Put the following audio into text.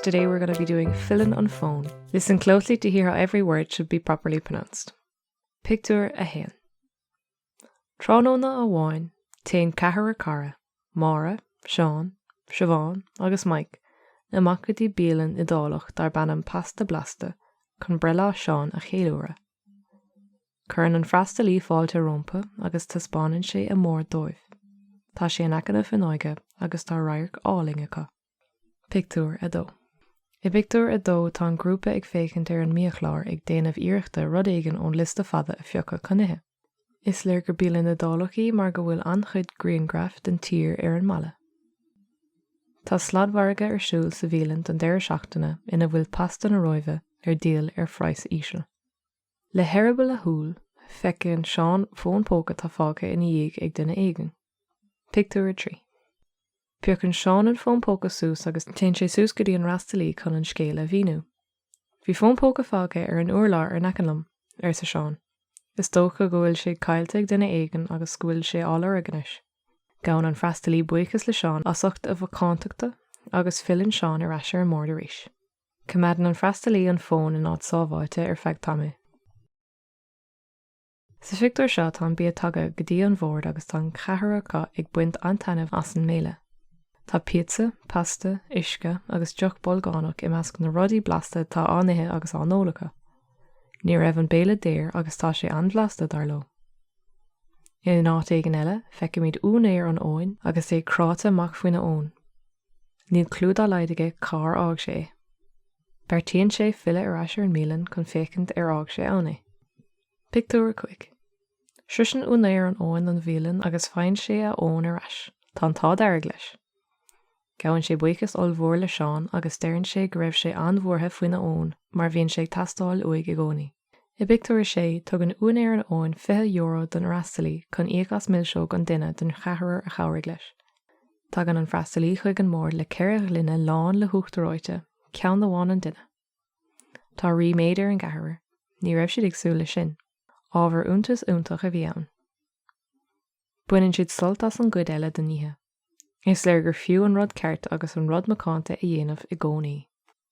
Today we're gonna be doing Filleann an Fón. Listen closely to hear how every word should be properly pronounced. Pictiúr 1. Tráthnóna amháin, téann ceathrar cara, Máire, Seán, Siobhán agus Mike, amach go dtí bialann Iodálach darb ainm Pasta Blasta chun breithlá Seán a cheiliúradh. Cuireann an freastalaí fáilte rómpa agus taispeánann sé a mbord dóibh. Tá sé in aice na fuinneoige agus tá radharc álainn acu. Pictiúr 2 I bpictiúr a dó tá an grúpa ag féachaint ar an mbiachlár ag déanamh iarrachta rud éigin ón liosta fada a phiocadh chun ithe. Is léir gur bialann Iodálach í mar go bhfuil an-chuid griangraif den tír ar an mballa. Tá sladmhargadh ar siúl sa bhialann don deireadh seachtaine ina bhfuil pasta na Róimhe ar díol ar phraghas íseal. Le heireaball a shúl, feiceann Seán fón póca atá fágtha ina dhiaidh ag duine éigin. Pictiúr 3 Piocann Seán an fón póca suas agus téann sé suas go dtí an freastalaí chun an scéal a mhíniú. Bhí fón póca fágtha ar an urlár in aice liom, arsa Seán. Is dócha go bhfuil sé caillte ag duine éigin agus go bhfuil sé á lorg anois. Gabhann an freastalaí buíochas le Seán as ucht a mhacántachta agus filleann Seán ar ais ar an mbord arís. Coimeádann an freastalaí an fón in áit sábháilte ar feadh tamaill. Sa phictiúr seo tá an bia tagtha go dtí an bhord agus tá an ceathrar acu ag baint an-taitneamh as an mbéile. Tá píotsa, pasta, uisce agus deoch bolgánach i measc na rudaí blasta atá á n-ithe agus á n-ól acu. Ní raibh an béile daor agus tá sé an-bhlasta, dar leo. In áit éigin eile, feicimid úinéir an fhóin agus é cráite amach faoina fhón. Níl clú dá laghad aige cár fhág sé é. Beartaíonn sé filleadh ar ais ar an mbialann chun féachaint ar fhág sé ann é. Pictiúr 5 Sroiseann úinéir an fhóin an bhialann agus faigheann sé a fhón ar ais. Tá an t-ádh dearg leis. Gabhann sé buíochas ollmhór le Seán agus deireann sé go raibh sé an-bhuartha faoina fhón mar bhíonn sé ag teastáil uaidh i gcónaí. I bpictiúr a sé, tugann úinéir an fhóin €20 don fhreastalaí chun íoc as milseog an duine den cheathrar a chabhraigh leis. Tagann an freastalaí chuig an mbord le ceithre ghloine lán le huachtar reoite, ceann amháin an duine. Tá ríméad ar an gceathrar, ní raibh siad ag súil leis sin. Ábhar iontais iontach a bhí ann. Baineann siad sult as an gcuid eile den oíche. Is léir gur fiú an rud ceart agus an rud macánta a dhéanamh i gcónaí.